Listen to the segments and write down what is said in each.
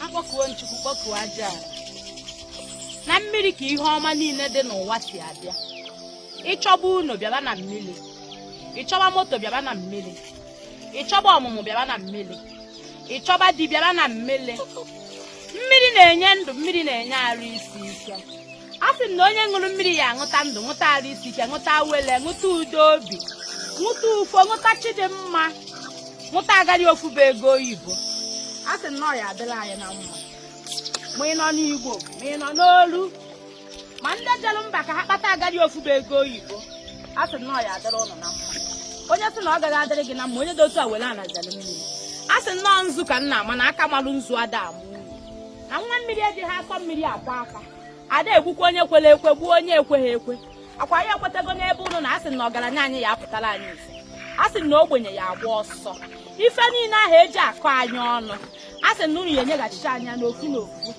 akpọkuo m chukwu kpọkuo aja na mmiri ka ihe ọma niile dị n'ụwa si abịa ị chọba ụnọ bịaba na mmiri ị chọba moto bịaba na mmiri ị chọba ọmụmụ bịaba na mmiri ị chọba di bịaba na mmiri mmiri na-enye ndụ mmiri na-enye arụ isi ike a sị m na onye ṅụrụ mmiri ya aṅụta ndụ ṅụta arụ isi ike ṅụta awele ṅụta udo obi ṅụta ufo ṅụta chi dị mma ṅụta agadi ofufe ego oyibo a sị m na ọ ya adịlị anyị na mma ma ị nọ n'igbo ma ị nọ n'olu ma ndị jelu mba ka ha kpata agadi ofufe ego oyibo a sị m na ọ ya adịlị ụnụ na mma onye sị na ọ gaghị adịrị gị na mma onye dị otu a were ana zere mmiri a sị na ọ nzu ka m na-ama na aka malụ nzu ada ama unyi na nwa mmiri ejighị akọ mmiri akwọ aka ada egbukwa onye kwere ekwe gbuo onye ekweghị ekwe akwa ya ekwetago n'ebe ụnụ nọ asị na ọgaranya anyị ya apụtara anyị ife asị na ogbenye ya agba ọsọ ife niile ahụ eji akọ anyị ọnụ asị na unu ya enyeghachicha anyị ya n'ofu n'ofu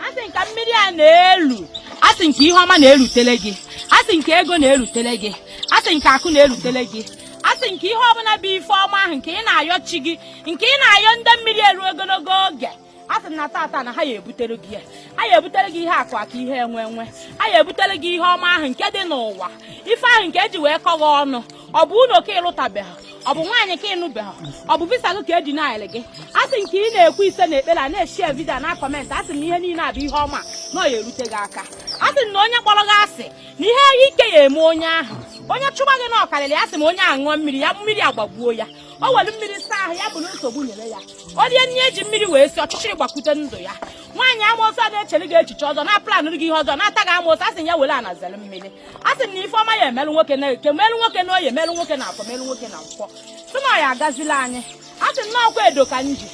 asị na ka mmiri a na-elu asị na ka ihe ọma na-erutere gị asị na ka ego na-erutere gị asị na ka akụ na-erutere gị asị nke ihe ọbụla bụ ife ọma ahụ nke ị na-ayọ chi gị nke ị na-ayọ ndị mmiri eru ogologo oge a sị na tata na ha ya ebutere gị ya ha ya ebutere gị ihe akụ akụ ihe enwe enwe ha ya ebutere gị ihe ọma ahụ nke dị n'ụwa ife ahụ nke eji wee kọ gị ọnụ ọ bụ ụlọ ka ị lụtabeghị ọ bụ nwaanyị ka ị nụbeghị ọ bụ visa gị ka e dinaịlị gị a sị na ka ị na-ekwu ise na ekpere a na-eshare video na comment a sị na ihe niile a bụ ihe ọma na ọ ya erute gị aka a sị na onye kpọrọ gị asị na ihe ike ya eme onye ahụ onye chụba gị na ọ karịrị ya sị ma onye ahụ ṅụọ mmiri ya mmiri agbagbuo ya o were mmiri saa ahụ ya bụrụ nsogbu nyere ya onye na-eji mmiri wee si ọchịchịrị gbakwute ndụ ya nwaanyị amoosu a na-echere gị echiche ọjọọ na-aplanụrụ gị ihe ọjọọ na-ata gị amoosu a sị ya were ana zere mmiri a sị na ife ọma ya emelụ nwoke na eke melụ nwoke na oye melụ nwoke na afọ melụ nwoke na nkwọ sị na ọ ya agazili anyị a sị na ọkwa edo ka m ji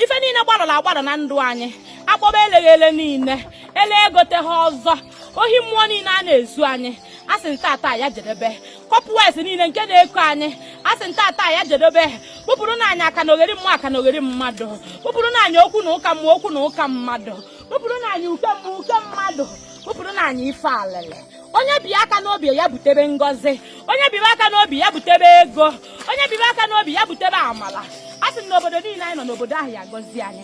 ife niile gbarọrọ agbarọ na ndụ anyị akpọba eleghị ele niile ele egoteghị ọzọ ohi mmụọ niile a na-ezu anyị a sị na tata ya jedebe cobwebs niile nke na-eko anyị a sị na tata ya jedobe kpụpụrụ nụ anyị akanogheri mmụọ akanogheri mmadụ kpụpụrụ nụ anyị okwu na ụka mmụọ okwu na ụka mmadụ kpụpụrụ nụ anyị uke mmụọ uke mmadụ kpụpụrụ nụ anyị ife alele onye bi aka n'obi ya butebe ngọzi onye bibe aka n'obi ya butebe ego onye bibe aka n'obi ya butebe amala a sị na obodo niile anyị nọ n'obodo ahụ ya gọzie anyị